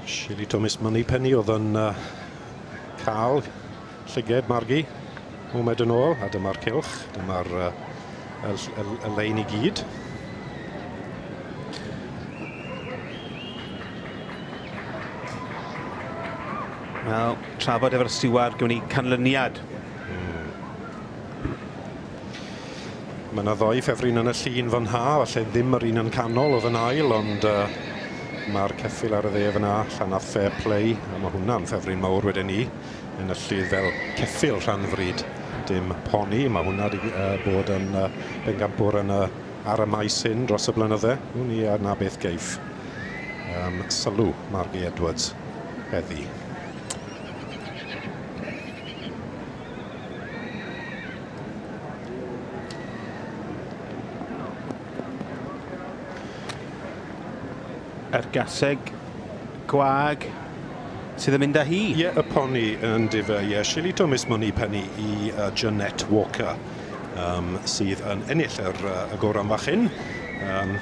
Shirley Thomas Moneypenny oedd yn uh, cael llyged margu mumed yn ôl, a dyma'r cilch, dyma'r uh, y, y, y lein i gyd. Wel, trafod efo'r stiward, gwn i canlyniad. Mm. Mae yna ddoi ffefryn yn y llun fan ha, falle ddim yr un yn canol oedd yn ail, ond uh, mae'r ceffil ar y dde fan ha, Llanadd Fair Play, a mae hwnna'n ffefryn mawr wedyn ni, yn y llydd fel ceffil rhan fryd, dim poni, mae hwnna wedi uh, bod yn uh, bengampwr yn y, ar y maes hyn dros y blynydde, wn i a na beth geif. Um, sylw, Margie Edwards, heddi. A'r gaseg gwag sydd yn mynd â hi. Ie, y poni yn difa, ie. Shillito Miss Money Penny i uh, Jeanette Walker, um, sydd yn ennill yr, uh, y goron fachyn. Um,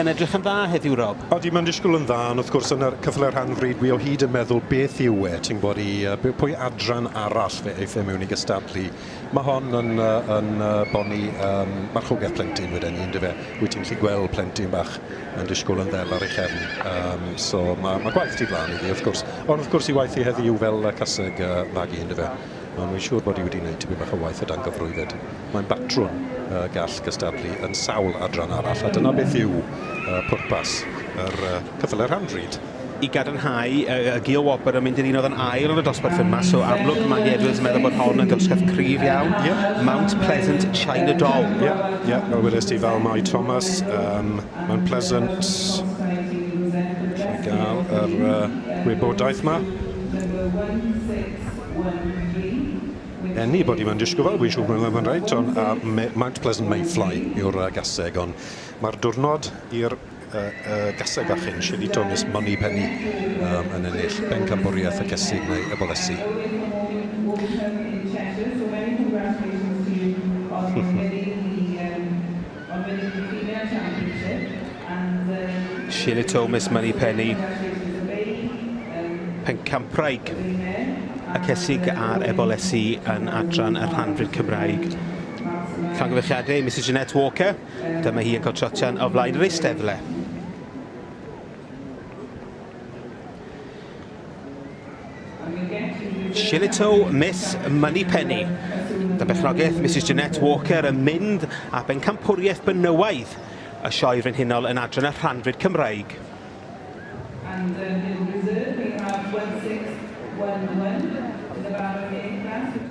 Yn edrych yn dda heddiw Rob. Odi mae'n disgwyl yn dda ond wrth gwrs yn y cyfle rhan fryd dwi o hyd yn meddwl beth yw e ti'n gwybod i yy pwy adran arall fe eiff e mewn i gystadlu. Mae hon yn yy yn yy bonni yym marchogaeth plentyn weden i yndyfe? Wyt ti'n gallu gweld plentyn bach yn disgwyl yn ddel ar ei chefn yym so ma' ma' gwaith tu flaen iddi wrth gwrs ond wrth gwrs ei waith hi heddiw fel yy caseg yy fagu yndyfe? Maen nhw'n siŵr bod hi wedi gwneud tipyn bach o waith o dan gyfrwydded. Mae'n batrwn y gall gystadlu yn sawl adran arall, a dyna beth yw pwrpas yr ceffylau rhan-bryd. I gadarnhau, y Geo Wobr yn mynd i'r un oedd yn ail yn y dosbarth hyn 'ma, so amlwg mae Andy Edwards yn meddwl bod hon yn gymysgedd cryf iawn. Ie. Mount Pleasant China Doll. Ie, ie, fel wedes ti, fel mai Thomas, um, Mount Pleasant. Rwy'n gael yr uh, gwybodaeth 'ma. Anybody mae'n disgybl, wi'n siŵr bod hwnna'n reit, ond a me- Mount Pleasant Mayfly yw'r yy gaseg, ond ma'r diwrnod i'r yy yy gaseg fach hyn, Shady Tones Moneypenny yym yn ennill bencampwriaeth y Cesig neu y Bolesi. Ond wedi diffinio championship and yym... Shirley Thomas, Moneypenny, Pencampwraig, y Cesig a'r Ebolesi yn adran y Rhanfryd Cymraeg. Llongyfarchiadau i Misus Jeanette Walker, dyma hi yn cael trotian o flaen yr eisteddle. Shillito Miss Moneypenny. Da bechnogaeth Mrs Jeanette Walker yn mynd a bencampwriaeth benywaidd y Sioe Frenhinol yn adran y rhanfyd Cymraeg. And then in reserve we have 1611 in the barricade class.